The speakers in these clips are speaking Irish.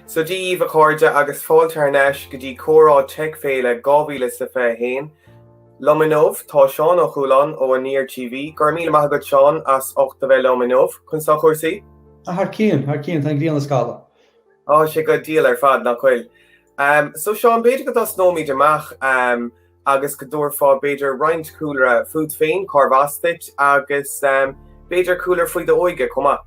So Dia dhaoibh, a chairde, agus fáilte thar n-ais go dtí comhrá Tech Féile 2021 liom inniu. Tá Seán Ó Chualáin ó Aniar TV, go raibh míle maith agat Seán as ucht a bheith liom inniu, conas tá cúrsaí. Thar cionn, thar cionn, tá an ghrian ag scaladh. Tá sé go diail ar fad, nach bhfuil? So Seán b'fhéidir go dtosnóimíd amach agus go dtabharfá b'fhéidir roinnt cúlra fút féin cárbh as duit agus b'fhéidir cúlra faoi d'óige chomh maith.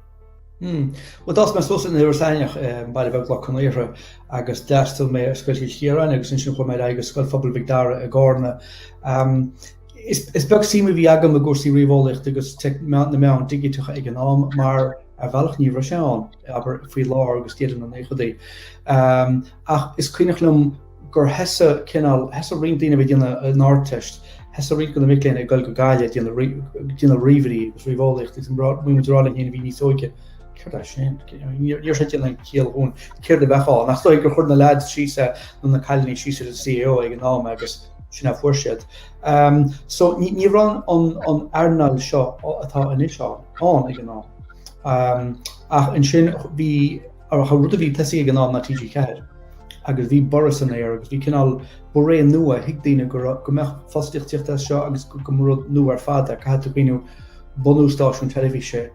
Hm. Bhuel d'fhás mé suas in Iorras Aithneach i mbaile beag Loch Con Aortha agus d'fhreastail mé ar Scoil Chill Chiaráin agus ansin chuaigh mé ar aghaidh go Scoil Phobail Mhic Dara i gCarna. Is beag suim a bhí agam i gcúrsaí ríomheolaíochta agus na meáin dhigiteacha ag an am mar ar bhealach ní raibh sé ann. abair faoi lár agus deireadh na naochaidí. Ach is cuimhneach liom gur thosaigh cineál, thosaigh roinnt daoine a bhí ag déanamh an Ardteist, thosaigh roinnt de na mic léinn ag dul go Gaillimh ag déanamh ríomhairí agus ríomheolaíocht agus muid ag rá linn féin a bhí níos óige céard é sin? Ní raibh sé ag déanamh aon chiall dhúinn céard a bheadh ann. Ach is dóigh gur chuir na leaids síos é, nó na cailíní síos ar an CAO ag an am agus sin a fuair siad. So ní raibh an earnáil seo atá anois ann ag an am. Ach ansin bhí rud a bhí tosaithe ag an am ná TG4 agus bhí borradh san aer agus bhí cineál ba ré nua, thuig daoine go raibh go mbeadh fostaíocht ag tíocht as seo agus gur rud nua ar fad é, caithfidh tú cuimhniú bunú stáisiún teilifíse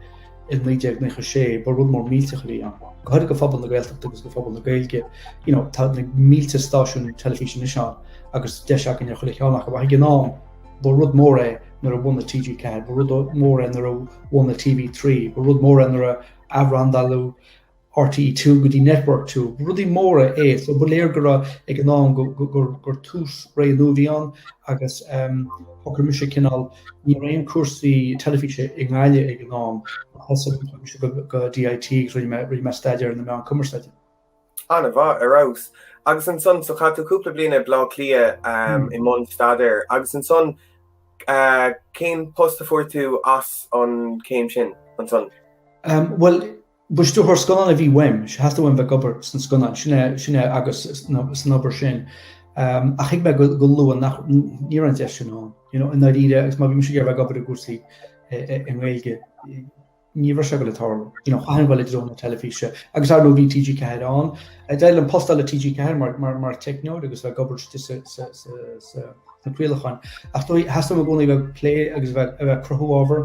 i 1996, ba rud mór millteach a bhí ann. Go háirithe do phobal na Gaeltachta agus do phobal na Gaeilge, you know, tá na mílte stáisiún teilifíse anois ann agus deis againn ar chuile cheann acu ach ag an am, Ba rud mór é nuair a bhunaigh TG4, ba rud mór é nuair a bhunaigh TV3, ba rud mór é nuair a athbhrandáladh RTÉ2 go dtí Network 2. Ba rudaí móra é, so ba léir go raibh ag an am go- go- gur- gur tús ré nua a bhí ann agus em, shocair mise cineál, ní raibh aon cúrsaí teilifíse i nGaillimh ag an am, so chuaigh mise go, go DIT, rinne mé, rinne mé staidéar ar na meáin cumarsáide. Ana-mhaith, ar fheabhas. Agus ansan, so chaith tú cúpla bliain i B'l'Áth Cliath i mbun staidéir agus ansan cén post a fuair tú as an chéim sin ansan? Bhuel, ba stiúrthóir scannán a bhí uaimse, theastaigh uaim bheith ag obair sna scannáin, sin é agus san obair sin ach thuig mé go luath nach, ní raibh an deis sin ann, i ndáiríre agus má bhí mise ag iarraidh bheith ag obair i gcúrsaí i nGaeilge, Ní raibh sé ag goil ag tarlú. You know, chaithfinn dul i dtreo na teilifíse. Agus ar ndóigh, bhí TG4 ann. D'éirigh liom post a fháil le TG4 mar, mar, mar teicneoir agus bheith ag obair istigh sa, sa, sa, sa, sna craolacháin. Ach is dóigh, theastaigh uaim i gcónaí a bheith ag plé agus a bheith, a bheith ag cruthú ábhar.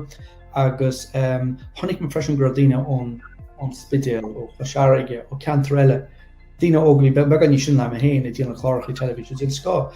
Agus, ehm, chonaic mé freisin go raibh daoine ón, ón Spidéal, ó Chois Fharraige, ó ceantair eile, daoine óga a bhí be, beagán níos sine ná mé féin, ag déanamh cláracha teilifíse den scoth.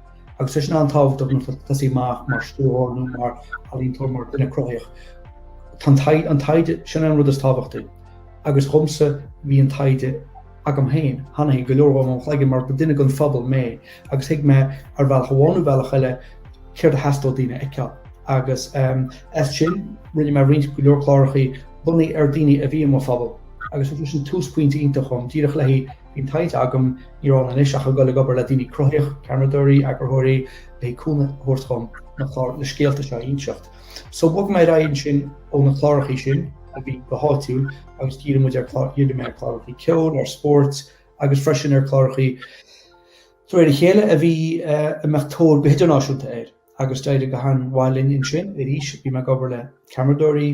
agus sé sin an tábhacht ag tosaí amach mar stiúrthóir nó mar ealaíontóir mar duine cruthaitheach. Tá an taighde sin an rud is tábhachtaí agus dhomsa bhí an taighde agam féin, tháinig go leor dhe ó mo chloigeann mar ba duine den phobal mé agus thuig mé ar bhealach amháin nó bealach eile céard a theastódh daoine a fheiceáil agus as sin rinne mé roinnt go leor clárachaí bunaithe ar daoine a bhí i mo phobal agus sin túsphointe iontach dhom díreach léi Bhí an taighde agam, ní raibh ann anois ach a dhul ag obair le daoine cruthaitheach, ceameradóirí, eagarthóirí, le cúnamh a thabhairt dhom na scéalta seo a inseacht. So bhog mé ar aghaidh ansin ó na clárachaí sin, a bhí go háitiúil, agus dhírigh muid, dhírigh mé ar chlárachaí ceoil, ar spóirt, agus freisin ar chlárachaí de réir a chéile a bhí eh, a mbeadh tóir go hidirnáisiúnta air. Agus d'éirigh go han-mhaith linn ansin, arís bhí mé ag obair le ceameradóirí,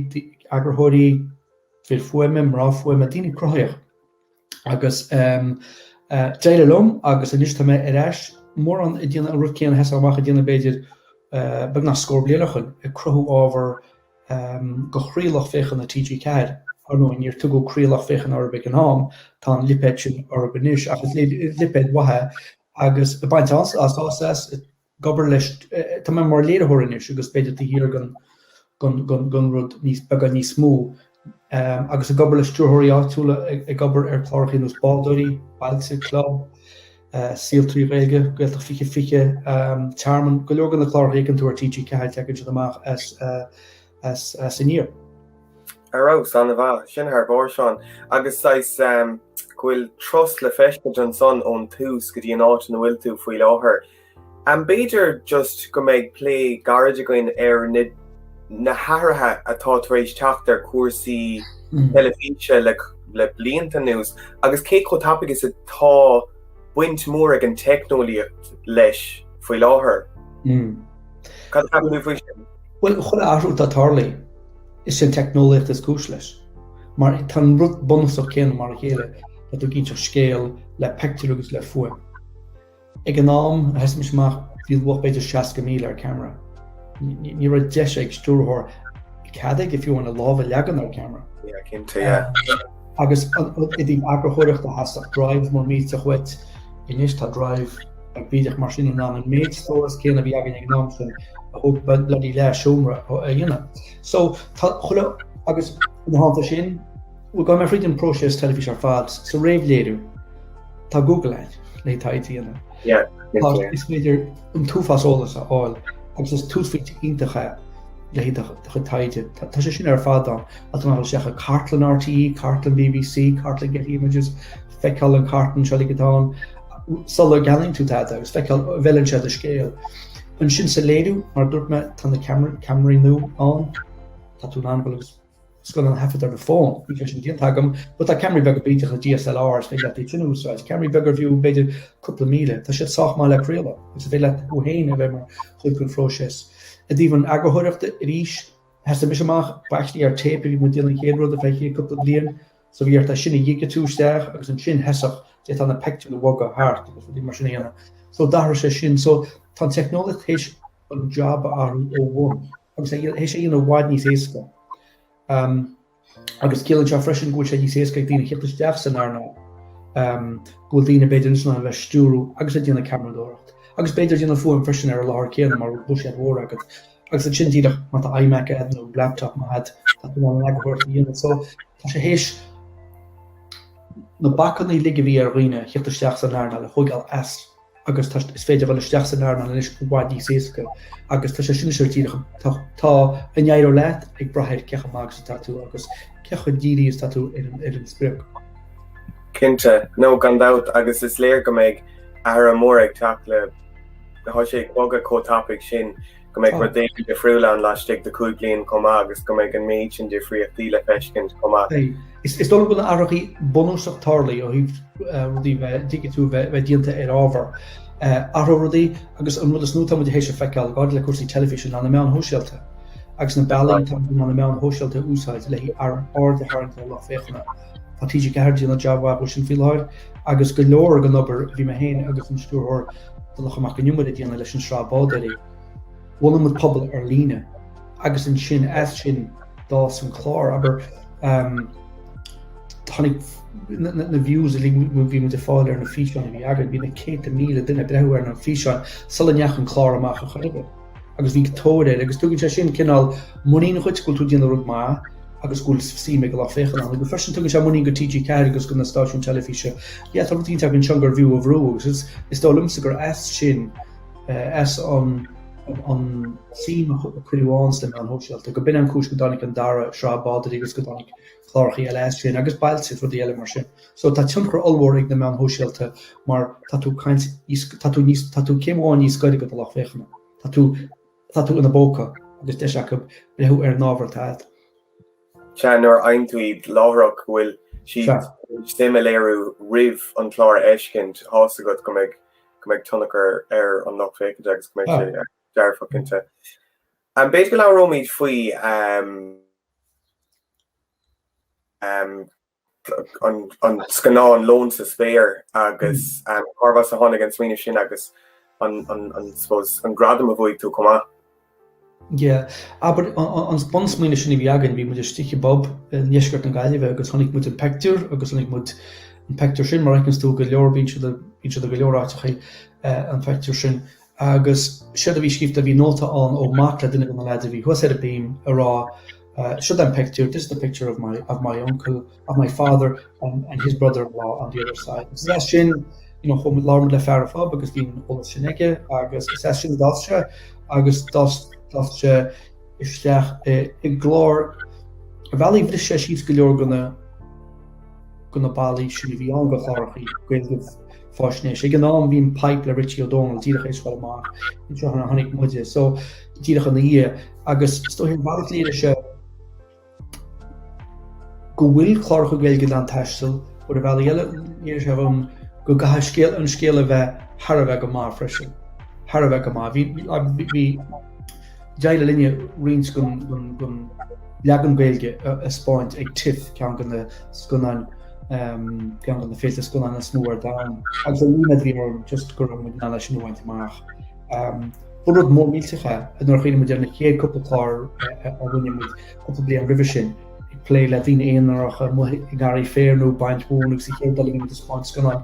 eagarthóirí, fir fuaime, mná fuaime, daoine cruthaitheach. Agus ehm d'éirigh liom agus anois tá mé ar ais mórán ag déanamh an rud céanna a thosaigh mé amach ag déanamh b'fhéidir beagnach scór bliain ó shoin ag cruthú ábhar ehm do chroílucht féachana TG4 ar ndóigh níor tugadh croílucht féachana orthu ag an am tá an lipéad sin orthu anois ach is lipéad mhaith é agus ag baint an-sásamh as ag obair leis, tá mé mar léiritheoir anois agus b'fhéidir taobh thiar den rud níos, beagán níos mó, agus ag obair le stiúrthóirí áitiúla ag obair ar chlárachaí nós Bádóirí, Bailte, Club, Saol Trí Ghaeilge, Gaeltacht 2020, Tearmann, go leor de na clárachaí a fheiceann tú ar TG4 teagann siad amach as Aniar. Ar fheabhas, an-mhaith. Sin thar barr, Seán. Agus saghas, go bhfuil turas le feiscint ansan ón tús go dtí an áit ina bhfuil tú faoi láthair. An b'fhéidir just go mbeidh plé gairid againn ar na hathruithe atá tar éis teacht ar chúrsaí teilifíse le blianta anuas agus cé chomh tapaidh is atá baint mhór ag an teicneolaíocht leis faoi láthair? Cad a cheapann tú faoi sin? Bhuel, chuile athrú atá tarlaithe, is é an teicneolaíocht is cúis leis. Mar tá an rud bunúsach céanna mar a chéile, tá tú ag inseacht scéal le pictiúr agus le fuaim. Ag an am a thosaigh mise amach bhí luach b'fhéidir 60,000 ar ceamara. Ní raibh deis ag stiúrthóir cead aige fiú amháin a lámh a leagan ar ceamara. Yeah, cinnte, yeah. Agus i dtaobh eagarthóireachta theastaigh Drive mo mhéidse dhuit. Anois tá Drive beag bídeach mar sin in ann an méid stóras céanna a bhí againn ag an am sin a thóg bloody leath seomra a dhéanamh. So tá chuile agus ina theannta sin, Bhuel, gabhfaidh mé thríd an próiseas teilifíse ar fad, sa réamhléiriú, tá Google a'd le taighde a dhéanamh. Tá, is féidir an t-uafás eolas a fháil agus is túsphointe iontach é le haghaidh do chuid taighde. Tá sé sin ar fad ann, tá tú in ann a dhul isteach sa cartlann RTÉ, cartlann BBC, cartlann Getty Images, feiceáil an cartlann seo uilig atá ann, sula gceannaíonn tú tada agus feiceáil an bhfeileann sé do scéal. Ansin sa léiriú, mar a dúirt mé, tá na ceamaraí nua ann, tá tú in ann a dhul agus, scannán a thaifead ar do fón, níl sé sin déanta agam, but tá ceamaraí beaga bídeach le DSLR is féidir leat iad sin a úsáid. Ceamaraí beaga arbh fhiú, b'fhéidir cúpla míle. Tá siad sách maith le craoladh agus is féidir leat thú féin a bheith mar chuid den phróiseas. I dtaobh an eagarthóireachta arís, thosaigh mise amach, basically ar téip a bhí muid ag déanamh an chéad rud ar feadh an chéad cúpla bliain, so bhí ort é sin a dhigitiú isteach agus ansin thosódh tú na peictiúir a bhogadh thart agus rudaí mar sin a dhéanamh. So d'athraigh sé sin. So tá an teicneolaíocht théis an jab a athrú ó bhun. Agus théis é a dhéanamh i bhfad níos éasca. Agus ciallaíonn sé freisin go bhfuil sé níos éasca ag daoine theacht isteach san earnáil, go bhfuil daoine b'fhéidir in ann a bheith ag stiúradh agus ag déanamh ceamaradóireacht. Agus b'fhéidir déanamh fuaim freisin ar an láthair céanna mara bhfuil buiséad mhór agat. Agus ansin díreach má tá iMac a'd nó laptop maith a'd tá tú in ann an eagarthóireacht a dhéanamh. So tá sé théis na bacainní uilig a bhí ar dhaoine theacht isteach san earnáil a thógáil as agus tá is féidir dhul isteach san earnáil anois i bhfad níos éasca agus tá sé sin seo díreach tá tá an éireoidh leat ag brath ar cé chomh maith agus atá tú agus cé chomh dírithe is tá tú ar an ar an sprioc. Cinnte, nó gan dabht agus is léir go mbeidh athrú mór ag teacht like tá sé ag bogadh chomh tapaidh sin. go mbeidh rud éigin difriúil ann laistigh de chúig bliain chomh maith agus go mbeidh an méid sin difríochtaí le feiscint chomh maith. Is dóigh liom go bhfuil na hathrachaí bunúsach tarlaithe ó thaobh rudaí bheith digitiú a bheith déanta ar ábhar, athróidh rudaí agus an rud is mó tá muid théis a feiceáil i ndáil le cúrsaí teilifíse ná na meáin shóisialta agus na bealaí in ann na meáin shóisialta a úsáid le aird a tharraingt ar lucht féachana. Tá TG4 ag déanamh jab mhaith sin faoi láthair agus go leor den obair a bhí mé féin agus an stiúrthóir Donncha Mac Con Iomaire ag déanamh leis an sraith Bádóirí. Bhunaigh muid pobal ar líne agus ansin as sin d'fhás an clár abair tháinig na views a bhí muid a fáil ar na físeáin a bhí againn, bhí na céadta míle duine ag breathnú ar na físeáin sula ndeachaigh an clár amach ar chor ar bith. agus bhí tóir air agus tugann sé sin cineál muinín dhuit go bhfuil tú déanamh rud maith agus go bhfuil suim ag an lucht féachana ann agus freisin tugann sé muinín go TG4 agus go na stáisiúin teilifíse yeah tá rud eicínt againn anseo gurbh fhiú a bhrú agus is is dóigh liomsa gur as sin eh, as an an suim a cuireadh ann sna meáin shóisialta go b'in an chúis go dtáinig an dara sraith Bádóirí agus go dtáinig clárachaí eile as sin agus Bailte rudaí eile mar sin. So tá tionchar ollmhór ag na meáin shóisialta mar tá tú cineál níos, tá tú níos, tá tú céim amháin níos gaire do do lucht féachana. Tá tú, tá tú ina bpóca agus deis acu breathnú ar an ábhar atá a'd. Sea, nuair a aithníonn tú láithreach go bhfuil siad ag suim a léiriú roimh an chlár a fheiscint, a fhios agat go mbeidh, go mbeidh tionchar ar an lucht féachainte agus go mbeidh sé dearfach inti. Em, b'fhéidir go labhróimíd faoi em, em, an scannán Lón sa Spéir agus cárb as a tháinig an smaoineamh sin agus I suppose an gradam a bhuaigh tú chomh maith. Yeah, abair, an bunsmaoineamh sin a bhí againn, bhí muid istigh i bpub i ndeisceart na Gaillimhe agus chonaic muid an pictiúr agus chonaic muid an pictiúr sin, mar a fheiceanns tú, go leor, bíonn siad i go leor áiteacha an pictiúr sin. Agus séard a bhí scríofa bhí nóta ann ó mac le duine de na leaids a bhí thuas ar an mbíoma a rá Sure that picture, this is the picture of my of my uncle, of my father and and his brother-in-law on the other side. Agus is as sin, you know, labhair muid le fear an phub agus bhí an t-eolas sin aige agus is as sin a d'fhás sé agus d'fhás d'fhás sé isteach i i gclár ar bhealaí bhris sé síos go leor de na de na ballaí sin a bhí ann go clárachaí Gaeilge faisnéis. Ag an am bhí The Pipe le Richie Ó Domhnaill díreach théis a ghoil amach ansin tháinig muide so díreach ina dhiaidh agus is dóigh ar bhealach léirigh sé go bhfuil cláracha Gaeilge in ann taisteal but ar bhealaí eile léirigh sé dhom go gcaithfidh an scéal a bheith thar a bheith go maith freisin. Thar a bheith go maith. Bhí, bhí, bhí, bhí. D'éirigh linne roinnt den leagan Gaeilge a thaispeáint ag TIFF, ceann de na scannáin, ceann de na féilte scannáin is mó ar domhan. Agus dúinne a bhí ann, just go raibh muid in ann é sin a bhaint amach. Ba rud mór millteach é, nuair a chuimhnigh muid ar na chéad cúpla clár a rinne muid cúpla bliain roimhe sin, ag plé le daoine aonaracha amuigh i ngarraí féir nó ag baint mhóna agus an chéad rud eile bhí muid ag taispeáint scannáin.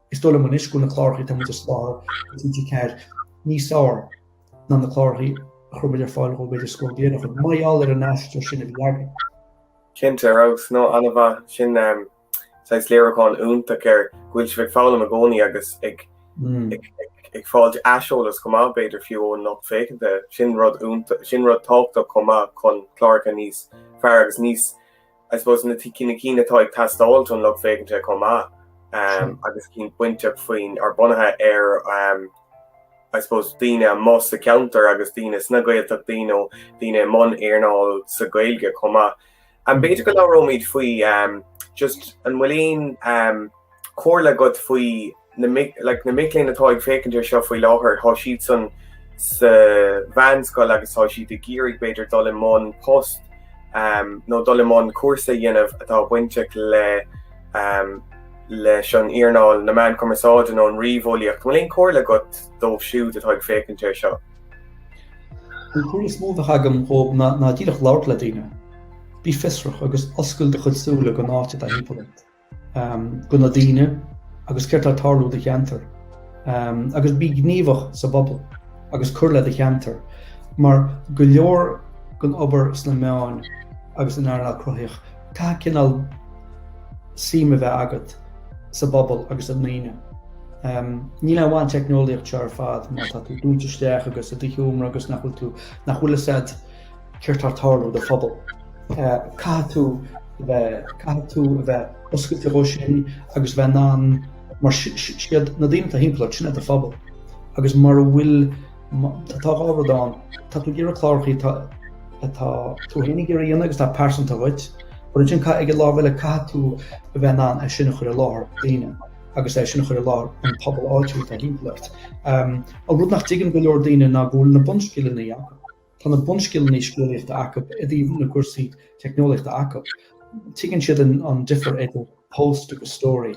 Is dóigh liom anois go bhfuil na clárachaí atá muid a spáint ar TG4 níos feárr ná na clárachaí a chuir muid ar fáil dhó b'fhéidir scór bliain ó shoin, mar gheall ar an aistear sin a bhí againn. Cinnte, a Rós, nó, ana-mhaith. Sin saghas léiriúchán iontach ar go bhfuil sibh ag foghlaim i gcónaí agus ag ag fáilt aiseolas chomh maith b'fhéidir fiú ón lucht féachanta. Sin rud iontach, sin rud tábhachtach chomh maith chun cláracha níos fearr agus níos I suppose na cinn atá ag teastáil don lucht féachainte chomh maith agus cinn bainteach faoin, or bunaithe ar I suppose daoine amuigh sa cheantar agus daoine sna Gaeltachtaí nó daoine i mbun earnáil na Gaeilge chomh maith. B'fhéidir go labhróimid faoi just an bhfuil aon comhairle agat faoi, like, na mic léinn atá ag féachaint air seo faoi láthair, tá siadsan sa mheánscoil agus tá siad ag iarraidh b'fhéidir dul i mbun post um, nó dul i mbun cúrsa a dhéanamh atá bainteach le um, leis an earnáil na meán cumarsáide nó an ríomheolaíocht. An bhfuil aon chomhairle agat dóibh siúd atá ag féachaint air seo? An comhairle is mó a bheadh agam dhóibh ná, ná díreach labhairt le daoine. Bí fiosrach agus oscail do chuid súile don áit atá timpeall ort. do na daoine agus céard tá ag tarlú i do cheantar agus bí gníomhach sa bpobal agus cur le do cheantar mar go leor den obair sna meáin agus an earnáil cruthaitheach caithfidh cineál suim a bheith agat sa bpobal agus i ndaoine. Ní le bhaint teicneolaíocht tá sé ar fad má tá tú dúnta isteach agus istigh i do sheomra agus nach bhfuil tú nach bhfuil a fhios agat Céard tá ag tarlú i do phobal? Caithfidh tú a bheith, caithfidh tú a bheith oscailte dhó sin agus a bheith in ann, mar is iad na daoine atá thimpeall ort, sin é do phobal. Agus mura bhfuil, tá dhá rud ann, tá tú ag iarraidh clárachaí atá, atá tú fhéin ag iarraidh a dhéanamh agus atá pearsanta dhuit, but ansin caithfidh ar an lámh eile, caithfidh tú a bheith in ann é sin a chur i láthair do dhaoine agus é sin a chur i láthair an pobal áitiúil atá thimpeall ort. An rud nach dtuigeann go leor daoine ná go bhfuil na bunscileanna acu. Tá na bunscileanna scéalaíochta acu i dtaobh na gcúrsaí teicneolaíochta acu. Tuigeann siad an difear idir post agus story.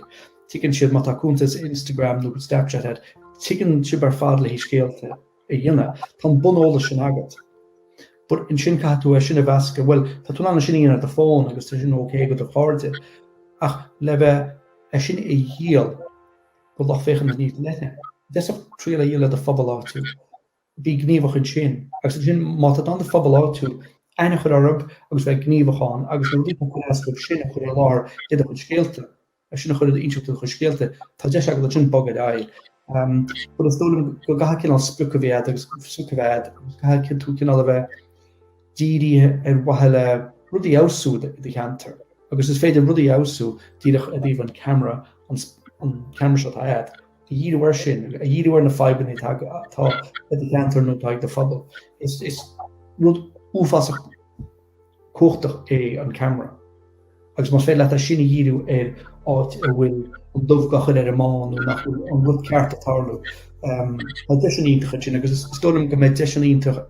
Tuigeann siad má tá cuntas Instagram nó Snapchat agat, tuigeann sibh ar fad le haghaidh scéalta a dhéanamh. Tá an buneolas sin agat. But ansin caithfidh tú é sin a mheascadh, bhuel, tá tú in ann é sin a dhéanamh ar do phone agus tá sin ok do do chairde, ach le bheith é sin a dhíol do lucht féachana níos leithne, díreach triail a dhíol le do phobal áitiúil. bí gníomhach ansin, agus ansin má tá tú in ann do phobal áitiúil, aithne a chur orthu agus bheith gníomhach ann agus na rudaí atá ag cur as dóibh sin a chur i láthair i do chuid scéalta, é sin a chur i d'insint do chuid scéalta, tá deis agat ansin bogadh ar aghaidh. But is dóigh liom go gcaithfidh cineál sprioc a bheith agat agus sprioc a bheith agat agus caithfidh tú cineál a bheith dírithe ar mhaithe le rudaí a fheabhsú i do cheantar. Agus is féidir rudaí a fheabhsú díreach i dtaobh an camera an camera seo atá agat. a dhíriú air sin, a dhíriú ar na fadhbanna atá atá ag do cheantar nó atá ag do phobal. Is rud uafásach cumhachtach é an ceamara. Agus más féidir leat é sin a dhíriú ar áit a bhfuil an dubh dhá chur ar an mbán nó nach bhfuil an rud ceart ag tarlú, tá deis an-iontach ansin agus is dóigh liom go mbeidh deis an-iontach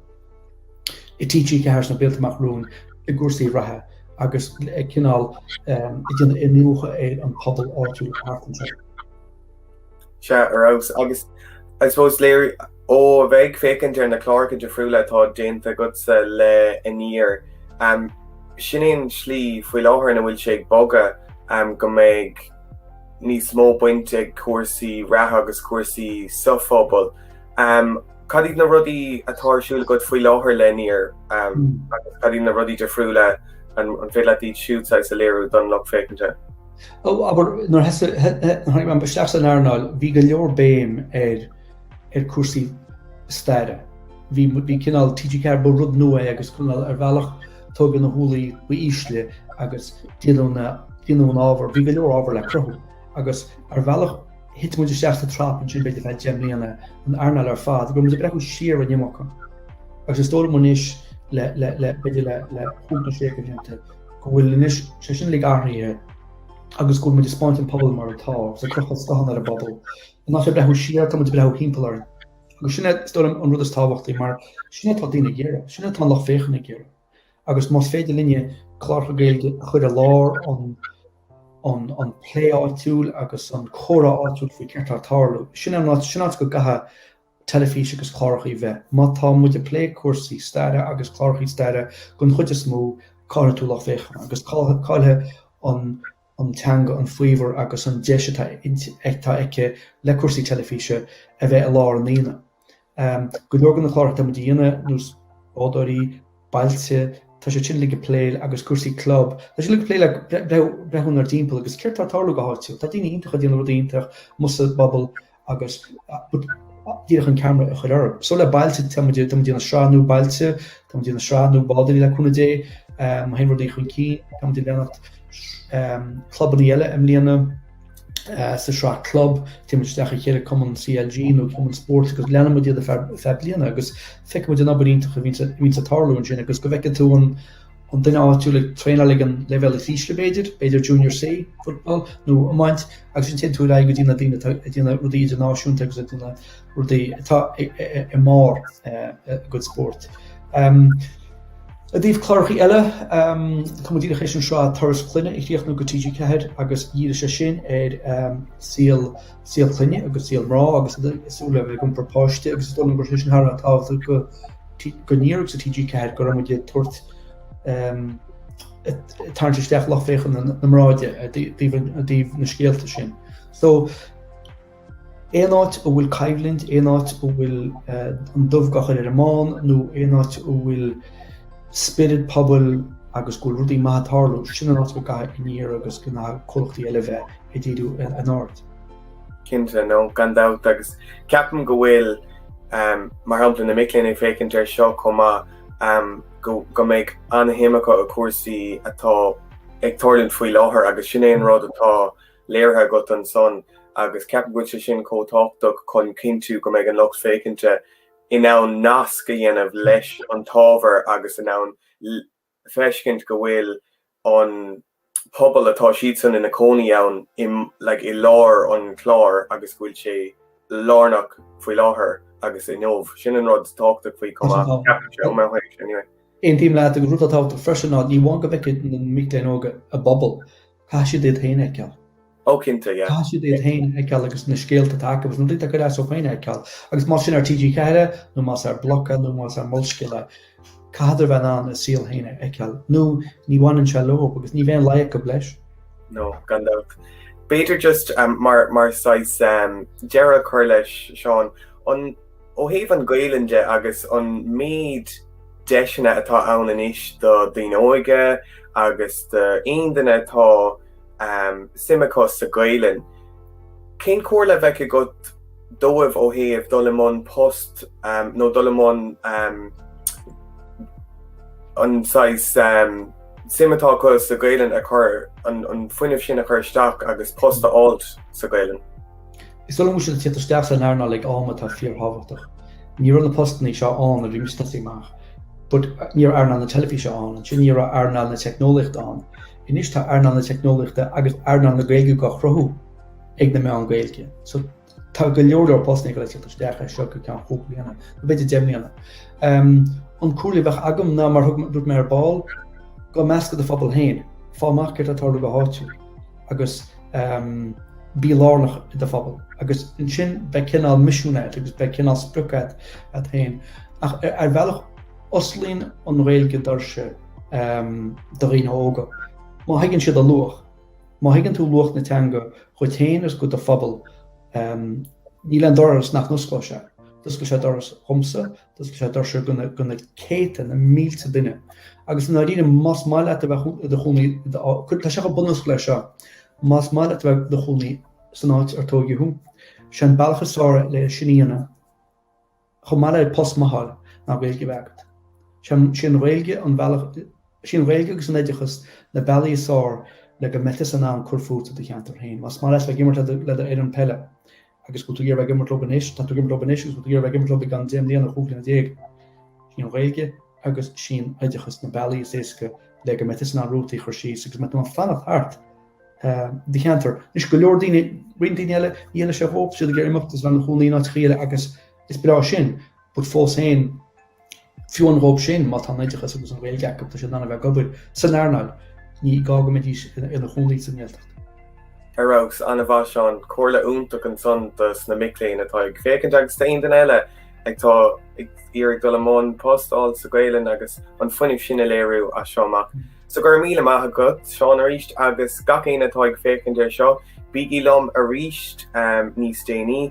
i TG4 sna blianta amach romhainn i gcúrsaí reatha agus ag cineál ag déanamh iniúchadh ar an pobal áitiúil thart anseo. Sea, ar fheabhas. Agus I suppose is léir, ó a bheith ag féachaint ar na cláracha difriúla atá déanta agatsa le Aniar, em, sin é an slí faoi láthair ina bhfuil sé ag bogadh, em, go mbeidh níos mó baint ag cúrsaí reatha agus cúrsaí sa phobal. Em, cad iad na rudaí atá ar siúl agat faoi láthair le Aniar, em, agus cad iad na rudaí difriúla an, an féidir leat iad siúd saghas a léiriú don lucht féachanta? Ó, abair, nuair a tháinig mé féin isteach san earnáil, bhí go leor béim ar ar cúrsaí staire. Bhí bhí cineál TG4 ba rud nua é agus cineál ar bhealach tógadh na húllaí ba ísle agus déanadh na déanadh an ábhar, bhí go leor ábhar le cruthú agus ar bhealach thit muid isteach sa trap ansin b'fhéidir feadh deich mbliana, an earnáil ar fad, go raibh muid ag breathnú siar an iomarca. Agus is dóigh liom anois le le le b'fhéidir le le cúig nó sé de bhlianta, go bhfuil anois sé sin uilig athraithe agus go bhfuil muid ag spáint an pobal mar atá agus ag crochadh scáthán ar an bpobal. In áit a bheith ag breathnú siar, tá muid ag breathnú thimpeall orainn. Agus sin é, is dóigh liom, an rud is tábhachtaí mar sin é atá daoine ag iarraidh, sin é atá an lucht féachana ag iarraidh. Agus más féidir linne cláracha Gaeilge a chur i lár an plé áitiúil agus an comhrá áitiúil faoi céard atá ag tarlú, sin é an áit, sin áit go gcaithfidh teilifís agus clárachaí bheith. Má tá muid a' plé cúrsaí staire agus clárachaí staire gon chuid is mó, caillfidh tú lucht féachana agus caillfidh an teanga an faobhar agus an deis atá aici le cúrsaí teilifíse a bheith i lár an aonaigh. Go leor de na cláracha atá muid a dhéanamh, nós Bádóirí, Bailte, tá siad sin uilig a' plé agus cúrsaí club, tá siad uilig a' plé le breathnú inár dtimpeall agus céard tá ag tarlú go háitiúil. Tá daoine iontach ag déanamh rudaí iontach, amuigh sa bpobal agus díreach an ceamara a chur orthu. So le Bailte tá muid tá muid ag déanamh sraith nua Bailte, tá muid ag déanamh sraith nua Bádóirí le cúnamh Dé, um, má théann rudaí chun cinn, tá muid ag leanacht um, clubannaí eile i mbliana, uh, sa sraith club, téann muid isteach a chéile cumann CLG nó cumann spóirt agus leanann muid iad ar feadh, feadh bliana agus feiceann muid an obair iontach a bhíonns ag, bhíonns ag tarlú ansin agus go bhfeicfidh tú an an duine áitiúil ag traenáil ag an leibhéal is ísle b'fhéidir, b'fhéidir Junior C, football, nó iomáint, agus ansin téann tú ar aghaidh go dtí na daoine atá ag déanamh rudaí idirnáisiúnta agus ag déanamh rudaí atá i mbarr a gcuid spóirt. I dtaobh clárachaí eile, tá muid díreach tar éis an sraith Turas Clainne a chríochnú do TG4 agus dhírigh sé sin ar saol saol clainne agus saol mná agus súil a bheith ag iompar páiste agus is dóigh liom go raibh sé sin thar a bheith tábhachtach do do Aniar agus do TG4 go raibh muid ag tabhairt tarraingt isteach lucht féachana mná i dtaobh na scéalta sin. So aon áit a bhfuil coimhlint, aon áit a bhfuil eh, an dubh dhá chur ar an mbán nó aon áit a bhfuil spiorad pobail agus go bhfuil rudaí maithe ag tarlú sin an áit go gcaithfidh Aniar agus na comhlachtaí eile bheith a dhíriú in ord. Cinnte, no, gan dabht, agus ceapaim go bhfuil, mar shampla, na mic léinn ag féachaint ar seo chomh maith, go mbeidh an-shuim acu i gcúrsaí atá ag tarlúint faoi láthair agus sin é an rud atá léirithe agatsa ansan agus ceapaim go bhfuil sé sin chomh tábhachtach chun cinntiú go mbeidh an lucht féachainte in ann nasc a dhéanamh leis an t-ábhar agus in ann feiscint go bhfuil an pobal atá siadsan ina cónaí ann i like i lár an chláir agus go bhfuil sé lárnach faoi láthair agus inniu. Sin an rud tábhachtach faoi chomh maith, ceapaimse, ó mo thaobh anyway. Aontaím leat, an rud atá tábhachtach freisin ná ní amháin go bhfeicfidh na mic léinn óga a bpobal, Caith siad iad féin a fheiceáil. Ó cinnte, yeah. Caith siad iad féin a fheiceáil agus na scéalta atá acu agus na daoine atá ag cur as dóibh féin a fheiceáil agus más sin ar TG4 nó más ar Bloc nó más ar Molscéal caitheadar a bheith in ann a saol féin a fheiceáil nó ní bhaineann sé leo agus ní bheidh an Ghaeilge leis. No, gan dabht. B'fhéidir just mar mar saghas deireadh a chur leis, Seán, an. Ó thaobh an Gaolainn de agus an méid deiseanna atá ann anois do daoine óga agus do aon duine atá suim acu sa Gaolainn, cén comhairle a bheadh agat dóibh ó thaobh dul i mbun post nó dul i mbun an saghas suim atá acu sa Gaolainn a chur, an fuinneamh sin a chur isteach agus post a fháilt sa Gaolainn? Is dóigh liom go bhfuil muid ag tíocht isteach sa earnáil ag am atá fíorthábhachtach. Ní raibh na postanna seo ann nuair a bhí mise ag tosaí amach. But, ní raibh earnáil na teilifíse ann, ansin ní raibh earnáil na teicneolaíochta ann. Anois tá earnáil na teicneolaíochta agus earnáil na Gaeilge dhá chruthú ag na meáin Ghaeilge. So, tá go leor leor postanna ag tíocht isteach as seo go ceann chúig bliana, nó b'fhéidir deich mbliana. Umm, an chomhairle a bheadh agam ná mar a thug, dúirt mé ar ball, gabh i measc do phobal féin, fáil amach céard atá tarlú go háitiúil. agus bí lárnach i do phobal agus ansin beidh cineál misiún agat agus beidh cineál sprioc agat agat féin ach ar bhealach osclaíonn an Ghaeilge doirse do dhaoine óga. Má thuigeann siad a luach, má thuigeann tú luach na teanga dhuit féin agus go do phobal níl aon doras nach n-osclóidh sé. D'oscail sé doras dhomsa, D'oscail sé doirse go na go na céadta, na mílte duine. Agus i ndáiríre, más maith leat a bheith i do chónaí, tá sé chomh bunúsach leis seo, más maith leat a bheith i do chónaí san áit ar tógadh thú, is é an bealach is fearr le sin a dhéanamh, chomh maith le post maith a fháil, ná Gaeilge a bheith agat. Sí an Ghaeilge an bealach, sí an Ghaeilge agus an oideachas na bealaí is fearr le go mbeifeása in ann cur fút i do cheantar féin. Más maith leat bheith ag imirt le do fhoireann peile, agus go bhfuil tú ag imirt leo anois, tá tú ag imirt leo anois agus go bhfuil tú ag iarraidh ag imirt leo go ceann deich mbliana, chúig bliana déag. Sin an Ghaeilge agus sin oideachas na bealaí is éasca le go mbeidh tusa in ann rútaí a chur síos agus go mbeidh tú in ann fanacht thart ehm, do cheantar. Anois go leor daoine roinnt daoine eile déanann siad hóp siad ag iarraidh imeacht is bheith ina gcónaí áit éicint eile agus is breá sin, but fós féin Fiú an dóibh sin, má tá an t-oideachas agus an Ghaeilge acu, tá siad in ann a bheith ag obair san earnáil. Ní gá go mbeidís ina gcónaí sa nGaeltacht. Ar fheabhas, ana mhaith Seán. Comhairle iontach ansan do sna mic léinn atá ag féachaint agus d'aon duine eile atá ag iarraidh dul i mbun postáil sa Gaelainn agus an fuinneamh sin a léiriú as seo amach. So go raibh míle maith agat Seán arís agus gach éinne atá ag féachaint ar seo bígí liom arís níos déanaí.